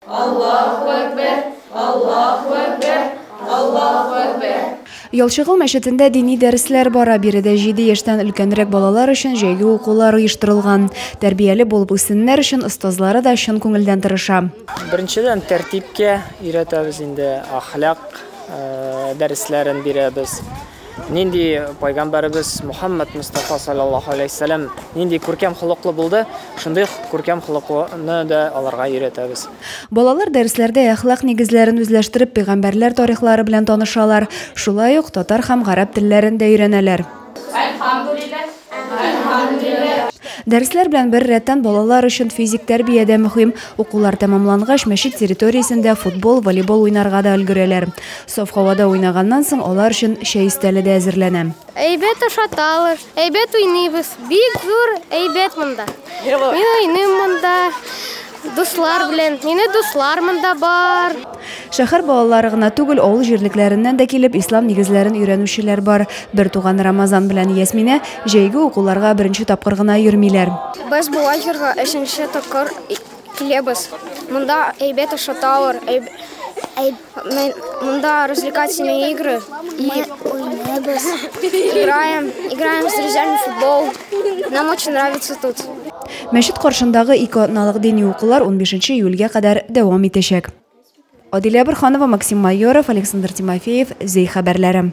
Аллаһу әкбәр, Аллаһу әкбәр, Аллаһу әкбәр. Ялчыгыл мәчетендә дини дәресләр бара. Биредә җиде яшьтән өлкәнрәк балалар өчен җәйге укулар оештырылган. Тәрбияле булып үссеннәр өчен остазлары да чын күңелдән тырыша. Беренчедән тәртипкә өйрәтәбез инде, ахлак дәресләрен бирәбез. нинди пайгамбарыбыз Мухаммад Мустафа саллаллаһу алейһи ва саллям нинди күркәм холыклы булды, шундый күркәм холыклыны да аларга өйрәтәбез. Балалар дәресләрдә әхлак нигезләрен үзләштереп, пәйгамбәрләр тарихлары белән танышалар, шулай ук татар һәм гарәп телләрен дә өйрәнәләр. Дәресләр белән бер рәттән балалар өчен физик тәрбия дә мөһим. Укулар тәмамлангач, мәчет территориясендә футбол, волейбол уйнарга да өлгерәләр. Саф һавада уйнаганнан соң алар өчен чәй өстәле дә әзерләнә. Әйбәт ашаталар, әйбәт уйныйбыз. Бик зур әйбәт монда. Мин уйныйм монда. Дуслар белән. Мине дуслар монда бар. Шәһәр балалары гына түгел, авыл җирлекләреннән дә килеп, ислам нигезләрен өйрәнүчеләр бар. Бертуган Рамазан белән Ясминә җәйге укуларга беренче тапкыр гына йөрмиләр. Без бу лагерьга өченче тапкыр киләбез. Монда әйбәт ашаталар, әйб, әйб, Мы мында развлекательные игры. И играем, играем с друзьями в футбол. Нам очень нравится тут. Мәчет каршындагы ике атналык дини укулар 15 июльгә кадәр дәвам итәчәк. Адилә Бурханова, Максим Майоров, Александр Тимофеев, Зей хәбәрләре.